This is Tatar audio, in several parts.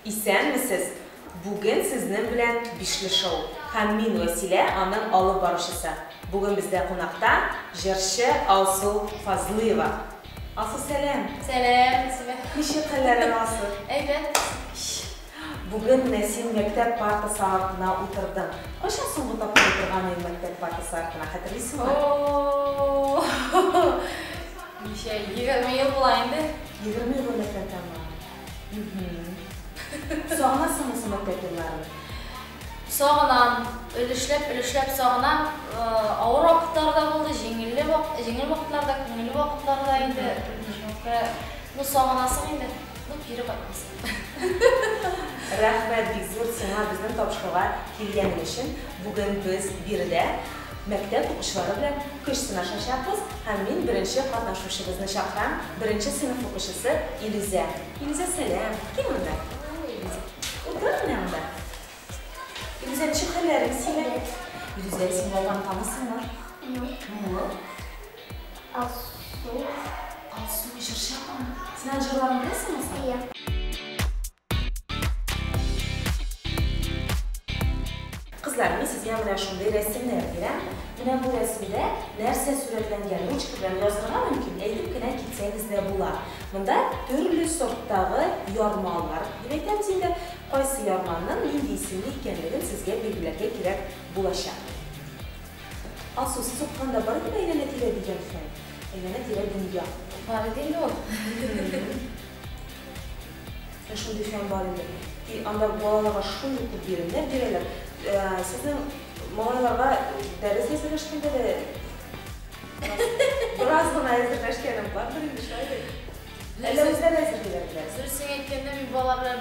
Исәнмесез! Бүген сезнең белән Бишле шоу һәм мин Вәсилә, аның алып баручысы. Бүген бездә кунакта җырчы Алсу Фазлыева. Алсу, сәлам! Сәлам, Вәсилә. Ничек хәлләрең, Алсу? Әйбәт. Бүген Нәсим мәктәп партасы артына утырды. Кайчан соңгы тапкыр утырган идең мәктәп партасы артына, хәтерлисеңме? О-о-о-о-о! Ничә, егерме ел була инде. Егерме ел элек әйтәме? Мхм. Сагынасыңмы соң мәктәп елларын? Сагынам, өлешләп, өлешләп сагынам. Авыр вакытлар да булды, җиңелле вак, җиңел вакытлар да, күңелле вакытлар да инде. Чынлыкта, ну сагынасың инде, ну кире кайтмассың. Рәхмәт бик зур сиңа безнең тапшыруга килгәнең өчен. Бүген без биредә мәктәп укучылары белән көч сынашачакбыз һәм мин беренче катнашучыбызны чакырам, беренче сыйныф укучысы Илүзә. Илүзә, сәлам! Кил монда. Утыр менә монда. Илүзә, ничек хәлләрең синең? Илүзә, син бабаны танысыңмы? Мулл. Алсу. Алсу җырчы апамы? Син аның җырларын беләсеңме соң? Иә. Кызлар, мин сезгә менә шундый рәсемнәр бирәм. Менә бу рәсемдә нәрсә сурәтләнгән? Ручка белән язырга мөмкин, әйтеп кенә китсәгез дә була. Монда төрле сорттагы ярмалар дип әйтәбез инде. Кайсы ярманың нинди исемле икәнлеген сезгә билгеләргә кирәк булачак. Афсус, сукканда бары тик әйләнә-тирә дигән хәл. Әйләнә-тирә дөнья. Бары тик бу. Ә шундый фән бар инде. И анда балаларга шундый күп биремнәр бирәләр. Сезнең малайларга дәрес әзерләшкәндә дә бераз гына әзерләшкәнем бардыр инде, шулай бит? Әллә үзләре әзерлиләр беләсең? Дөресен әйткәндә, мин балалар белән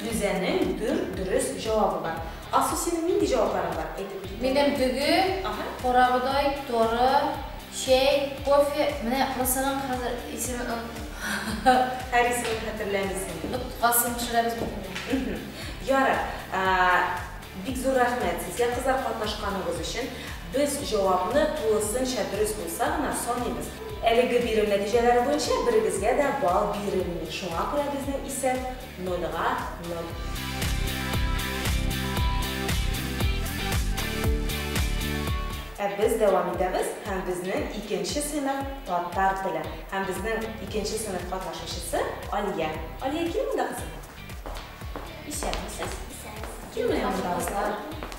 Рүзәнең дүрт дөрес җавабы бар. Алсу, синең нинди җавапларың бар? Әйтеп кит. Минем дөге, Аһа. карабодай, торы, чәй, кофе, менә кырысының хәзер исемен оныттым. Һәр исемен хәтерләмисеңме? Боткасын пешерәбез бит инде. Мхм. Ярар. Бик зур рәхмәт сезгә, кызлар, катнашканыгыз өчен. Без җавапны тулысынча дөрес булса гына саныйбыз. Әлеге бирем нәтиҗәләре буенча берегезгә дә балл бирелми, шуңа күрә безнең исәп Нольга ноль. Ә без дәвам итәбез һәм безнең икенче сыйныф татар теле һәм безнең икенче сыйныф катнашучысы Алия. Алия, кил монда кызым. Исәнмесез. Исәнмесез. Кил менә монда кызлар.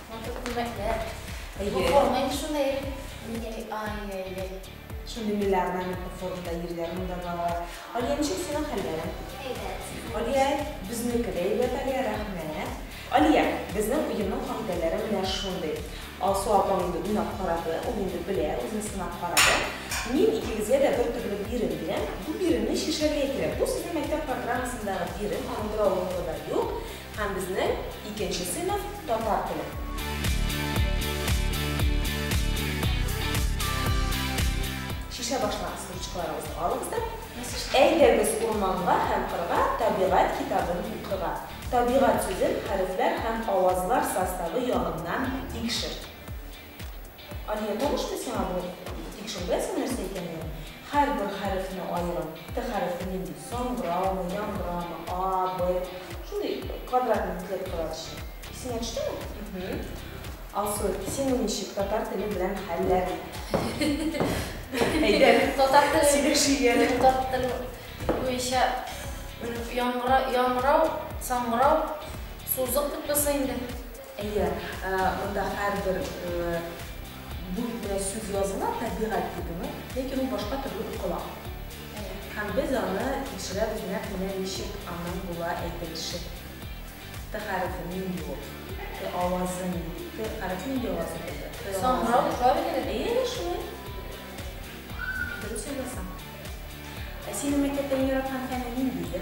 Матур күлмәкләр. Әйе. Бу форма инде шундый. Ай-яй-яй. Şimdi milli ornamentli форумда йөргәнең дә бар. Алия, ничек синең хәлләрең? Әйбәт. Алия, безнеке дә әйбәт, Алия, рәхмәт. Алия, безнең уенның кагыйдәләре менә шундый. Алсу апаң инде уйнап карады, ул инде белә, үзен сынап карады. Мин икегезгә дә бер төрле бирем бирәм. Бу биремне чишәргә кирәк. Бу сезнең мәктәп программасындагы бирем, аның беравыклыгы да юк. Һәм безнең икенче сыйныф татар теле. Чишә башлагыз ручкаларыгызны алыгыз да. Әйдәгез урманга һәм кырга табигать китабын укырга. Табигать сүзен хәрефләр һәм авазлар составы ягыннан тикшер. Алия, танышмы сиңа бу? Тик шул беләсең нәрсә икәнен? Һәрбер хәрефне аерып, Т хәрефе нинди? Саңгыраумы, яңгырамы, А, Б, шундый квадратный клеткалар эчен. Исеңә төштеме? Мһм. Алсу, сине ничек татар теле белән хәлләр? Әйдәр, сөйләшү ияле. Татар теле буенча яңгыра, яңгырау, саңгырау, сузык дип булса инде. Әйе, монда һәрбер бүлмә сүз языла, табигать дидеңме? Ләкин ул башка төрле укыла. Әйе. Һәм без аны тикшерәбез нәкъ менә ничек аның була әйтелеше. Т хәрефе нинди ул? Т авазы нинди? Т хәрефе нинди авазны белдерә? Т авазы. Саңгырау, правильно бит? Әйе, әйе, шулай. Дөрес уйласаң. Ә синең мәктәптә иң яраткан фәнең нинди иде?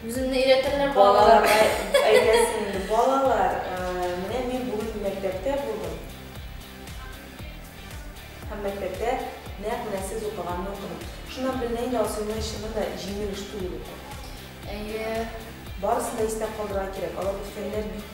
Үземне өйрәтәләр балалар. Әйтәсең инде, балалар, менә мин бүген мәктәптә булдым. Һәм мәктәптә нәкъ менә сез укыганны укыдым. Шуннан беленә инде, Алсуның чыннан да җиңел эш түгел ул. Әйе. Барысын да истә калдырырга кирәк. Алар үскәннәр бит.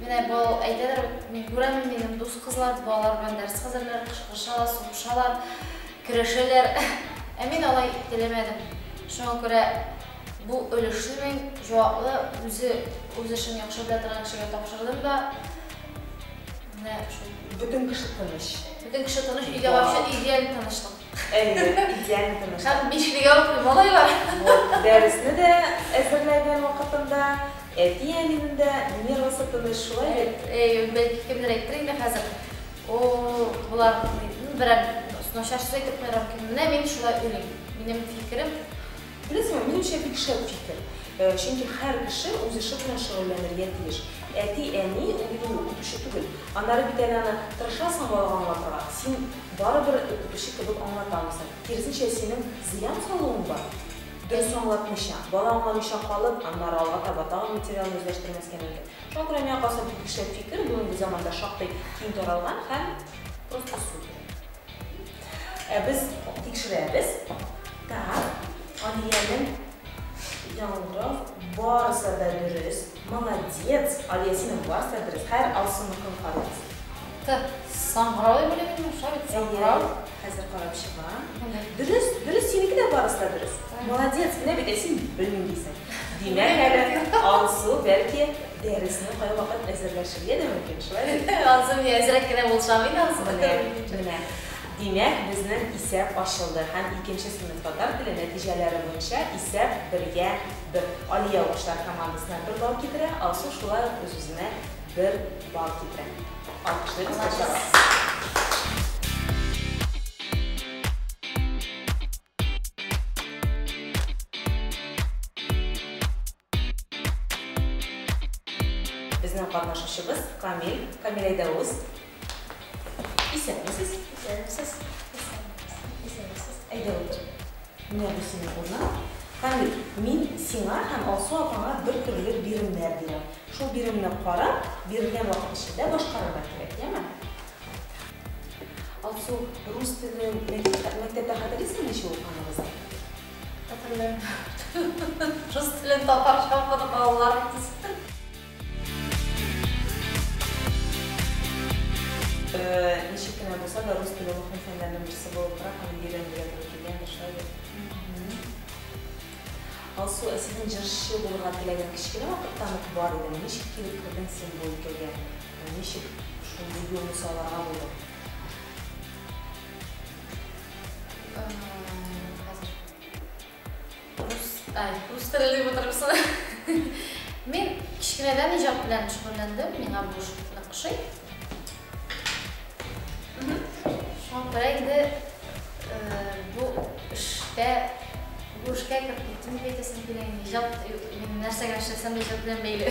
Менә бу әйтәләр, мин күрәмен, минем дус кызлар, балалар белән дәрес хәзерләр, кычкырышалар, сугышалар, көрәшәләр. Ә мин алай теләмәдем. Шуңа күрә бу өлешне мин җаваплы, үзе үз эшен яхшы белә торган кешегә тапшырдым да. Менә шул. Бөтен кеше тыныч. Бөтен кеше тыныч, өйдә вообще идеаль тынычлык. Әйе, идеаль тыныч. Һәм бишлегә укый малайлар. Вот, дәресне дә әзерләгән вакытында, әти-әнинең дә нервысы тыныч, шулай бит? Әйе, бәлки кемдер әйтер инде хәзер, О-о-о, болар берәр начарчы әйтеп куярга мөмкин. Менә мин шулай уйлыйм. Минем фикерем. Беләсеңме, минемчә, бик шәп фикер. Чөнки һәр кеше үз эше белән шөгыльләнергә тиеш. Әти, әни, ул бит ул, укытучы түгел. Аннары бит әле аны тырышасың балага аңлатырга, син барыбер укытучы кебек аңлатамысың. Киресенчә, синең зыян салуың бар. Дөрес аңлатмыйча, бала аңламыйча калып, аннары алга таба тагын материалны үзләштермәскә мөмкин. Шуңа күрә миңа калса, бу бик шәп фикер, бүгенге заманда шактый киң таралган һәм просто супер. Ә без тикшерәбез. Так, Алиянең яңгы барысы да дөрес. Молодец! Алия, синең барысы да дөрес. Хәер, Алсуныкын карыйбыз. Так, саңгырау дип уйлыйм мин монда, бит саңгырау. Хәзер карап чыгам. Дөрес, дөрес, синеке дә барысы да дөрес. Молодец, менә бит, ә син белмим дисең. Димәк әле, Алсу, бәлки, Дәресне кайвакыт әзерләшергә дә мөмкин, шулай бит? Ансы мин әзрәк кенә булсам иде, ансы менә. Менә. Димәк, безнең исәп ачылды һәм икенче сыйныф татар теле нәтиҗәләре буенча исәп бергә бер. Алия укучылар командасына бер балл китерә, Алсу шулай ук үз-үзенә бер балл китерә. Алкышлыйбыз кайчага. Безнең катнашучыбыз Камил, Камил Айдауз. Исәнмесез, исәнмесез, исәнмесез, исәнмесез. Әйдә утыр. Менә бу синең урының. Камил, мин сиңа һәм Алсу апаңа бер төрле биремнәр бирәм. Шул биремне карап, бирелгән вакыт эчендә башкарырга кирәк, яме? Алсу, рус телен мәктәптә мәктәптә хәтерлисеңме ничек укыганыбызны? Рус телен татарча укыды балаларым төсте. Ничек кенә булса да, рус теле мөһим фәннәрнең берсе булып тора һәм өйрәнергә туры килгәндер, шулай Алсу, ә сезнең җырчы булырга теләгән кечкенә вакыттан ук бар иде. Ничек килеп кердең син бу өлкәгә? Ничек шундый юлны сайларга булдың? Рус теле дип отырмысың? Мин кечкенәдән иҗат белән шөгыльләндем, миңа бу шөгыль ошый. Шуңа инде бу эшкә бу эшкә кереп киттем дип әйтәсем килә. Иҗат мин нәрсәгә эшләсәм дә иҗат белән бәйле.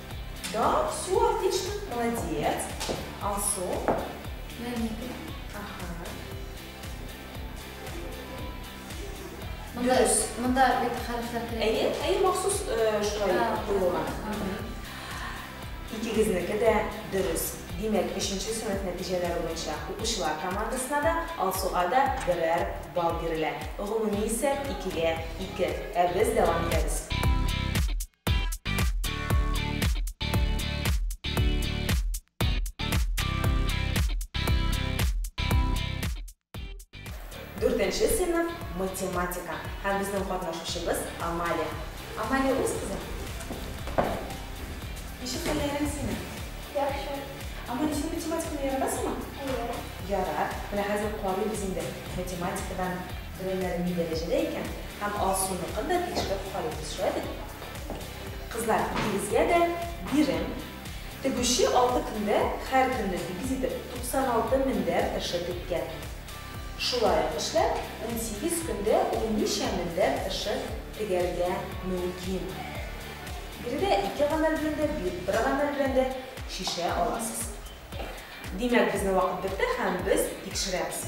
Да, все отлично, молодец. Алсу. Ага. Монда, Дөрес. монда бит хәрефләр керә. Әйе, әйе, махсус э, шулай Да. куелган. Икегезнеке дә дөрес. Димәк, өченче сыйныф нәтиҗәләре буенча укучылар командасына да, Алсуга да берәр балл бирелә. Гомуми исәп икегә ике. Ә без дәвам итәбез. Дүртенче сыйныф математика һәм безнең катнашучыбыз Амалия. Амалия үз кызы. Ничек хәлләрең синең? Яхшы. Амалия, син математиканы яратасыңмы? Әйе. Ярар. Менә хәзер карыйбыз инде математикадан Түбәннәре ни дәрәҗәдә икән? Һәм Алсуныкын да тикшереп карыйбыз, шулай бит? Кызлар, икегезгә дә бирем. Тегүче алты көндә һәр көнне сигез итеп 96 мендәр тыршы теккән. Шулай ук эшләп, унсигез көндә ул ничә мендәр тыршы тегәргә мөмкин? Биредә ике гамәл белән дә, бер гамәл белән дә чишә аласыз. Димәк, безнең вакыт бетте һәм без тикшерәбез.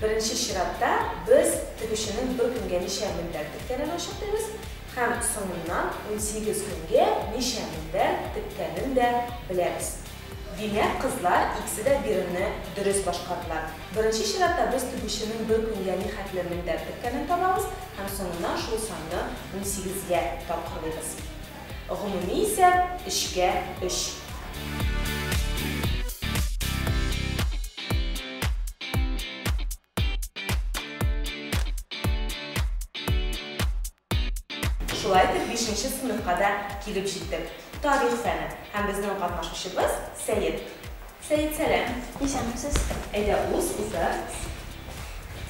Беренче чиратта без тегүченең бер көнгә ничә мендәр теккәнен ачыклыйбыз һәм соңыннан унсигез көнгә ничә мендәр теккәнен дә беләбез. Димәк, кызлар икесе дә биремне дөрес башкардылар. Беренче чиратта без тегүченең бер көнгә нихәтле мендәр теккәнен табабыз һәм соңыннан шул санны унсигезгә тапкырлыйбыз. Гомуми исәп, өчкә өч. Шулай итеп, бишенче сыйныфка да килеп җиттек. Тарих фәне һәм безнең катнашучыбыз Сәет. Сәет сәлам! Исәнмесез! Әйдә уз узды.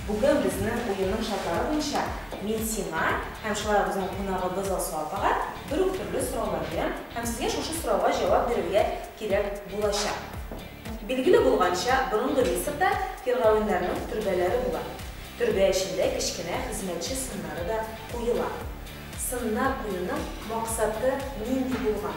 Бүген безнең уенның шартлары буенча мин сиңа һәм шулай ук безнең кунагыбыз Алсу апага бер үк төрле сораулар бирәм һәм сезгә шушы сорауга җавап бирергә кирәк булачак. Билгеле булганча, борынгы Мисырда фиргавеннарның төрбәләре була. Төрбә эчендә кечкенә хезмәтче сыннары да куела. Сыннар куюның максаты нинди булган?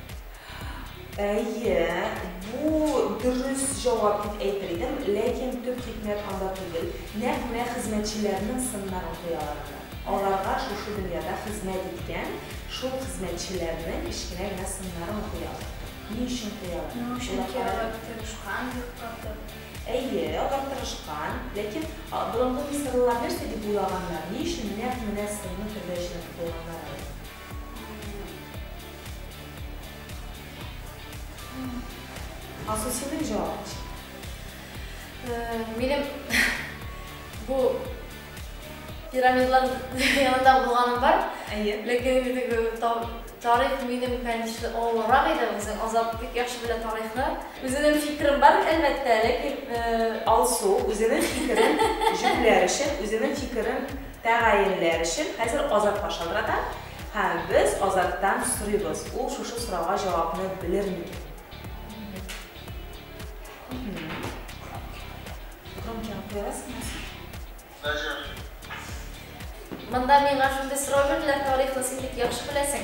Әйе, бу дөрес җавап дип әйтер идем, ләкин төп хикмәт анда түгел, нәкъ менә хезмәтчеләрнең сыннарын куялар анда. Аларга шушы дөньяда хезмәт иткән шул хезмәтчеләрнең кечкенә генә сыннарын куялар. Ни өчен куялар? Ни өчен ки алар тырышкан бик каты. Әйе, алар тырышкан, ләкин борынгы мисырлылар нәрсә дип уйлаганнар, ни өчен нәкъ менә сынны кергәч куйганнар алар? Асылсының җавап ишет. Минем бу пирамидлар янында булганым бар. Әйе. Ләкин инде тарих минем, конечно, авыррак иде. Үзең Азат бик яхшы белә тарихны. Үзенең фикерем бар, әлбәттә, ләкин Алсу үзенең фикерен җүләр өчен, үзенең фикерен Тәгаенләр өчен хәзер Азатка шалтырата һәм без Азаттан сорыйбыз, ул шушы сорауга җавапны белер микән? Громкига куярсыңмы соң? Даже. Монда миңа шундый сорау бирделәр, тарихны син бик яхшы беләсең.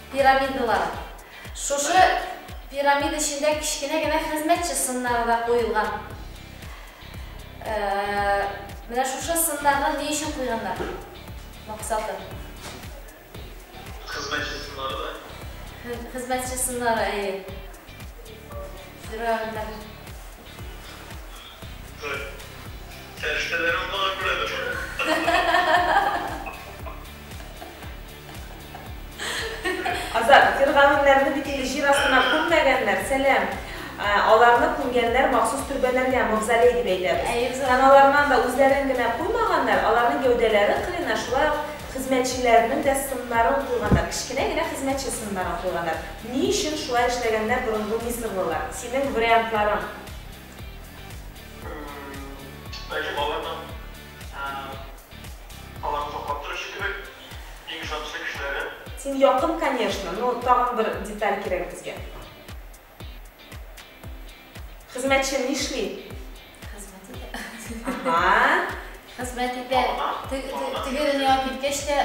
Пирамидалар. Шушы пирамида эчендә кечкенә генә хезмәтче сыннары да куелган. Менә шушы сыннарны ни өчен куйганнар? Максаты. Хезмәтче сыннары да. Хезмәтче сыннары, әйе. Фиргавеннәр. Фәрештәләр аңа күрәдер. Азат, фиргавеннәрне бит инде җир астына күммәгәннәр, сәлам. Аларны күмгәннәр махсус төрбәләргә, мавзолей дип әйтәбез. Таналарыннан да үзләрен генә куймаганнар, аларның гәүдәләре кырыена шулай ук хезмәтчеләренең дә сыннарын куйганнар, кечкенә генә хезмәтче сыннарын куйганнар. Ни өчен шулай эшләгәннәр борынгы мисырлылар? Синең вариантларың? Бәлки аларның аларны саклап торучы кебек. Иң шакшы кешеләре. Син якын конечно, но тагын бер деталь кирәк безгә. Хезмәтче нишли? Хезмәт итә. Аһа. Хезмәт итә. Теге дөньяга киткәч тә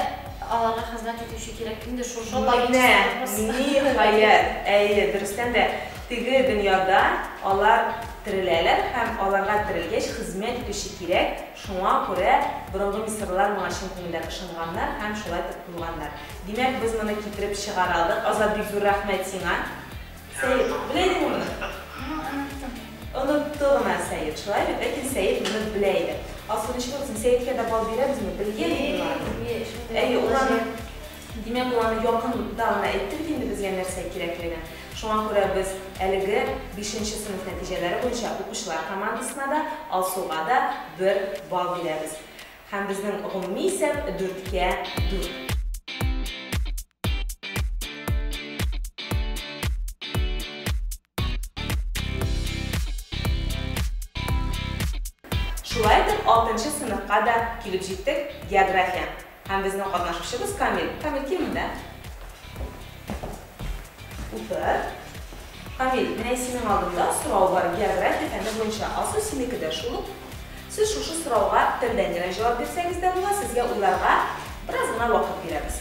аларга хезмәт итүче кирәк. Инде шушы Менә ниһаять. Әйе, дөрестән дә теге дөньяда алар тереләләр һәм аларга терелгәч хезмәт итүче кирәк. Шуңа күрә борынгы мисырлылар моңа чын күңелдән ышанганнар һәм шулай итеп куйганнар. Димәк, без моны китереп чыгара алдык. Азат, бик зур рәхмәт сиңа. Сәет, белә идеңме моны? Аңа оныттым. Онытты гына Сәет, шулай бит? Ләкин Сәет моны белә иде. Алсу, ничек булсын, Сәеткә дә бал бирәбезме? Белгән бит мин аны. Әйе, ул аны. Димәк, ул аны якында гына әйтте бит инде безгә нәрсә кирәклеген. Шуңа күрә без әлеге бишенче сыйныф нәтиҗәләре буенча укучылар командасына да, Алсуга да бер балл бирәбез. Һәм безнең гомуми исәп, дүрткә дүрт. Шулай итеп, 6-нчы сыныфка да килеп җиттек, география. Һәм безнең катнашучыбыз Камил. Камил, кил монда. Утыр. Камил, менә синең алдында сорау бар, география фәне буенча. Асу синеке дә шул ук. Сез шушы сорауга телдән генә җавап бирсәгез дә була, сезгә уйларга бераз гына вакыт бирәбез.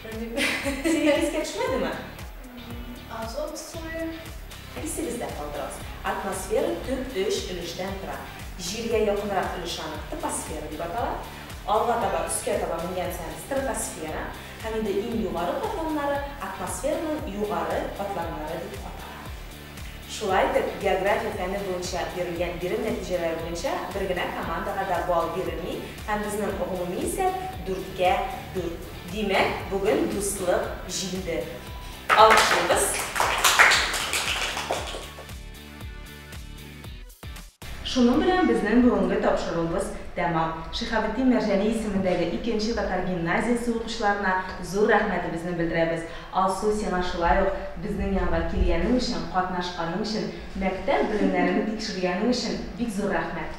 Сиңа искә төшмәдеме? Азот суы. Исегездә калдырыгыз. Атмосфера төп өч өлештән тора. Җиргә якынрак өлеше аны топосфера дип атала. Алга таба, өскә таба менгән саен стратосфера һәм инде иң югары катламнары атмосфераның югары катламнары дип атала. Шулай итеп, география фәне буенча бирелгән бирем нәтиҗәләре буенча бер генә командага да балл бирелми һәм безнең гомуми исәп, дүрткә дүрт. Димәк, бүген дуслык җиңде. Алкышлыйбыз. Шуның белән безнең бүгенге тапшыруыбыз тәмам. Шиһабетдин Мәрҗани исемендәге икенче татар гимназиясе укучыларына зур рәхмәтебезне белдерәбез. Алсу, сиңа шулай ук, безнең янга килгәнең өчен, катнашканың өчен, мәктәп белемнәрен тикшергәнең өчен бик зур рәхмәт.